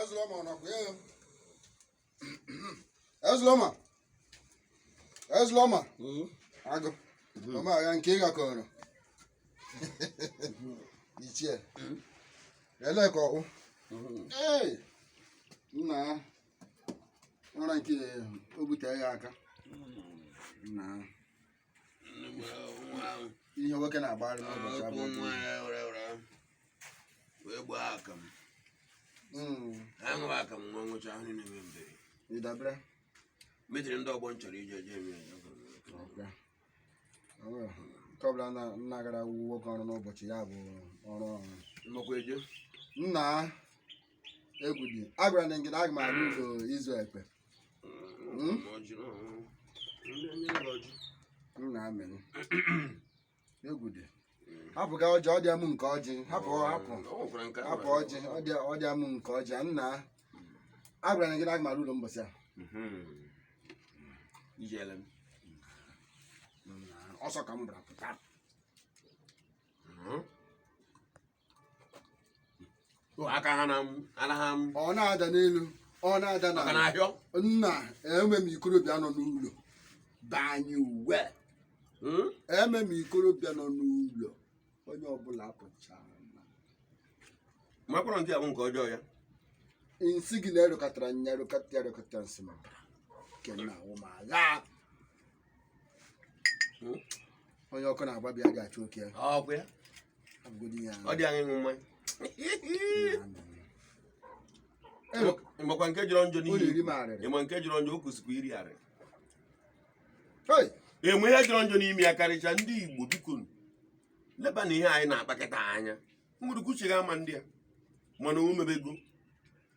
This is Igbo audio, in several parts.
Ezloma ọ nakwa ya Ezloma Ezloma agụ ọma agha nke ị ga-akọrọ ichie ele ka ọkpụ ee nna ya nwere nke o butere ya aka nna ya ihe nwoke na-agbara n'ụbọchị abụọ wee gbaa aka m hmm. aṅụrụ aka m nwa nwụcha ahụ niile nwe mbere ịdabere metiri ndị ọgbọ m chọrọ ije je eme nke ọbụla nna gara nwoke ọrụ n'ụbọchị ya bụ ọrụ ọrụ nnọkwa eje nna egwu dị agwara na ngịda aga m arụ ụlọ izu ekpe Hmm? m na-amịrị egwu dị hapụ ka ọjị ọ dị amụ nke ọjị hapụ hapụ hapụ ọjị ọ dị ọ dị amụ nke ọjị a nna agwara na ngịda aga m arụ ụlọ mbọsị a Ijele m. ọsọ ka m gbara pụta aka ha anaghị ọ na-ada n'elu ọ na-ada na ahịọ nna eme m ikorobịa nọ n'ụlọ banye uwe hmm? eme m ikorobịa nọ n'ụlọ onye ọbụla pụchara makwara nke abụ nke ọjọọ ya nsi gị na-erụkọtara nya erụkọta erụkọta nsị maka nke na awụ ma agha onye ọkụ na-agba bịa ga-achụ oke ya ọkwa ya abụgodi ya ọ dị anyị ịṅụ mmanya Ebe- ịmakwa nke jọrọ njọ ụlọ iri n'ihi m arịrị ịma nke jọrọ njọ o kwesịkwa iri arị Hey! e nwee ihe jọrọ njọ n'ime ya karịcha ndị Igbo bikonụ, leba n'ihe anyị na-akpakọta anya mgbere kwuchighị ama ndị a mana o mebego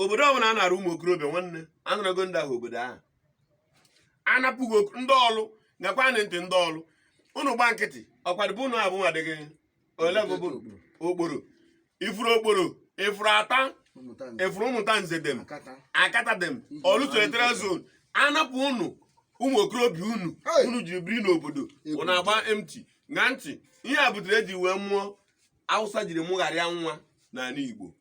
obodo ọbụla a nara ụmụ okorobịa nwanne anarago ndị ahụ obodo ahụ anapụ ndị Ọlụ nyakwa anyị ntị ndị Ọlụ ụnụ gba nkịtị ọkwadịbụ ụnụ abụ adịghị ole bụ Okporo ifuru Okporo ifuru Ata efuru Ụmụtanze dem Akata dem Ọlụ Senatorial zone anapụ ụnụ ụmụ okorobịa unu unu ji biri n'obodo ụnụ agba emti na ntị ihe a butere e ji wee mụọ Awụsa jiri mụgharịa nwa n'ala Igbo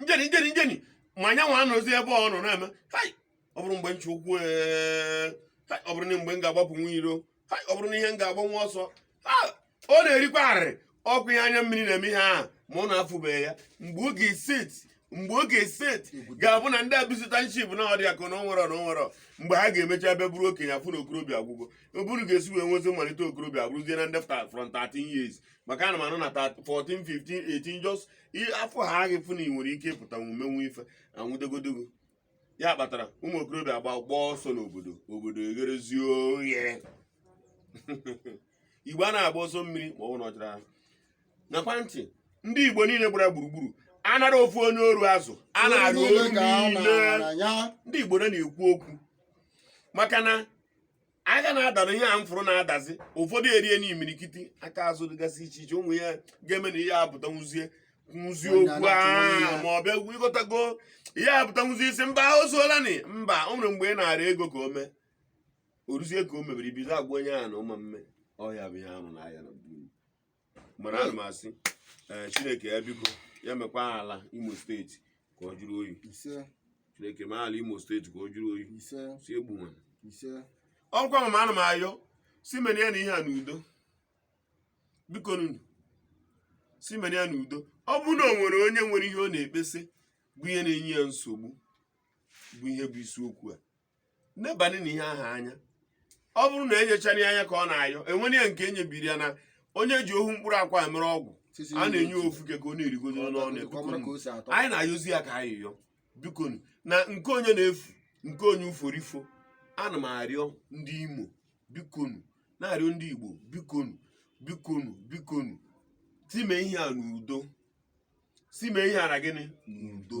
njeni njeni njeni ma anyanwụ anọzi ebe ọ nọ na-eme ọ bụrụ mgbe nche ụkwụ eh, ọ bụrụ na mgbe m ga-agbapụ nwa iro ọ bụrụ na ihe m ga-agba nwa ọsọ ọ na-erikwa arịrị ọkụ ihe anya mmiri na-eme ihe ahụ ma ọ na-afụbeghị ya mgbe oge set mgbe oge set ga-abụ na ndị abụzụta nchip na ọdị akụ na onwere na onwere mgbe ha ga-emecha ebe bụrụ okenye afụ na okorobịa agwụgo oburu ga-esi wee nwezi mmalite okorobịa abụrụzie na ndị front 13 years maka ana m anụ na 14 15 18 just afọ ha aghị fụ na ị nwere ike ịpụta omumenwu ife anwụdogodogo ya kpatara ụmụ okorobịa agba gbaa ọsọ n'obodo obodo egherezie oghe igbo a na-agba ọsọ mmiri ma ọ bụ na ọjara nakwa ntị ndị igbo niile gbara gburugburu anara ofu onye ọrụ azụ a na-arụ ọrụ niile ndị igbo na-ekwu okwu maka na aka na-adara ihe a m fụrụ na-adazi ụfọdụ erie n'imirikiti aka azụ dịgasị iche iche ụmụ ya ga-eme na ihe apụta nwụzie nwụzie okwu ahụ ma ọ bịa ịghọtago ihe apụta nwụzie isi mba o zuolani mba o nwere mgbe ị na-ara ego ka o mee oruzie ka o mebiri bido agwa onye ahụ na ụma mme ọhịa bụ ihe ahụ na ahịa na mana ana m asị ee chineke ya biko ya mekwa ala imo steeti ka ọ jụrụ oyi ise chineke mee ala imo steeti ka ọ jụrụ oyi ise si egbu nwa ise ọkwa mama ana m ayọ si mere ya na ihe a n'udo bikonu si mere ya n'udo ọ bụrụ na o nwere onye nwere ihe ọ na-ekpesị bụ ihe na-enye ya nsogbu bụ ihe bụ isiokwu a nebanye na ihe ahụ anya ọ bụrụ na enyechana ya anya ka ọ na-ayọ enwere ya nke enyebiri ya na onye ji ohu mkpụrụ akwa mere ọgwụ a na-enye ofu ka ọ na-erigodo n'ọnụ anyị na-ayọzi ya ka anyị yọ bikonu na nke onye na-efu nke onye uforifo ana m arịọ ndị imo bikonu na-arịọ ndị igbo bikonu bikonu bikonu si mee ihe a n'udo si mee ihe a na gịnị n'udo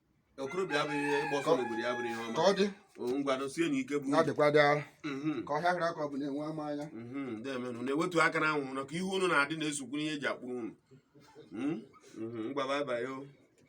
okorobịa abụghị ihe ịgba ọsọ n'obodo ya abụrụ ihe ọma ka ọ dị O, ngwanụ sienụ ike bụ na dịkwa dị ahụ Mhm, ka ọhịa hịrị aka ọ bụ na-enwe ama anya mhm, ndeemenụ na-ewetu aka na anwụrụ ka ihu unu na-adị na-esokwu n'ihe eji akpụ unu Mhm, mhm, ngwa bye bye o